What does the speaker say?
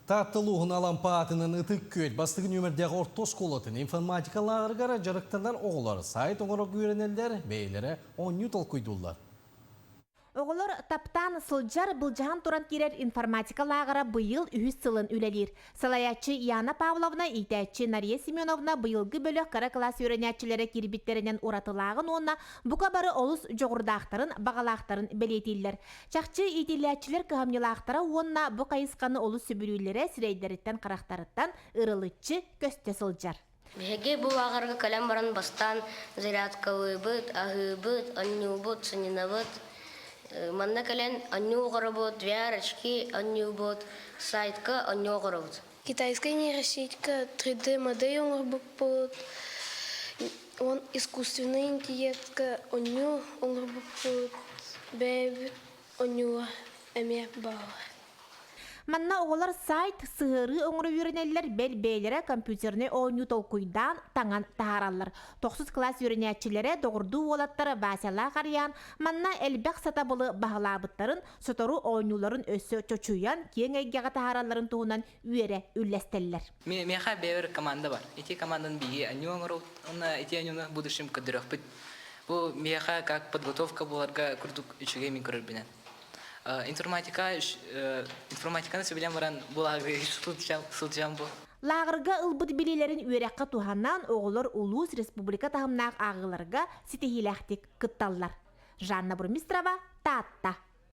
Таатта улууһун Алампа аатынан Ытык Күөт бастыгы нүөмэрдээҕи орто оскуолатын информатика лааҕыргара дьарыктанар оҕолор сайт оҥорорго үөрэнэллэр, бэйэлэрэ оонньуу толкуйдууллар. Оҕолор таптаан сылдьар, былдьаһан туран киирэр информатика лааҕыра быйыл үһүс сылын үлэлиир. Салайааччы Яна Павловна, иитээччи Нария Семеновна быйылгы бөлөх кыра кылаас үөрэнээччилэрэ киирбиттэринэн уратылааҕын уонна бука бары олус дьоҕурдаахтарын, баҕалаахтарын бэлиэтииллэр. Чахчы иитиллээччилэр кыһамньылаахтара уонна бу хайысханы олус сөбүлүүллэрэ сирэйдэриттэн-харахтарыттан ырылыччы көстө сылдьар. Биһиги бу лааҕырга кэлэн баран бастаан зарядкалыыбыт, аһыыбыт, анньыыбыт, санньынабыт. Манна кэлэн анньыы оҕоробут, VR-очки анньыыбыт, сайтка анньыы оҕоробут. Китайскай нейросетька 3D-модель оҥорбуппут, уон искусственнай интеллектка оонньуу оҥорбуппут, бэйэбит оонньууга эмиэ бааллар. Манна оҕолор сайт, сыһыарыы оҥоро үөрэнэллэр, бэл бэйэлэрэ компьютернай оонньуу толкуйдаан, таҥан таһаараллар. Тохсус класс үөрэнээччилэрэ, доҕордуу уолаттара Васялаах Арыйаан манна элбэх сатабылы баһылаабыттарын, сотору оонньууларын өссө чочуйан, киэҥ эйгэҕэ таһааралларын туһунан үөрэ үллэстэллэр. Миэхэ бэйэбэр команда бар. Ити команданы биһиги аньыы оҥоруу уонна ити аньыыны в будущем көрдөрүөхпүт. Бу миэхэ как подготовка буоларга курдук үчүгэй мин көрөрбүнэн. Информатика информатиканы сөбүлээн баран булааһыгы сылдьам бу. Лааҕырга ылбыт билиилэрин үөрэххэ туһанан оҕолор улуус, республика таһымнаах ааҕыыларга ситиһиилээхтик кытталлар. Жанна Бурмистрова, Таатта.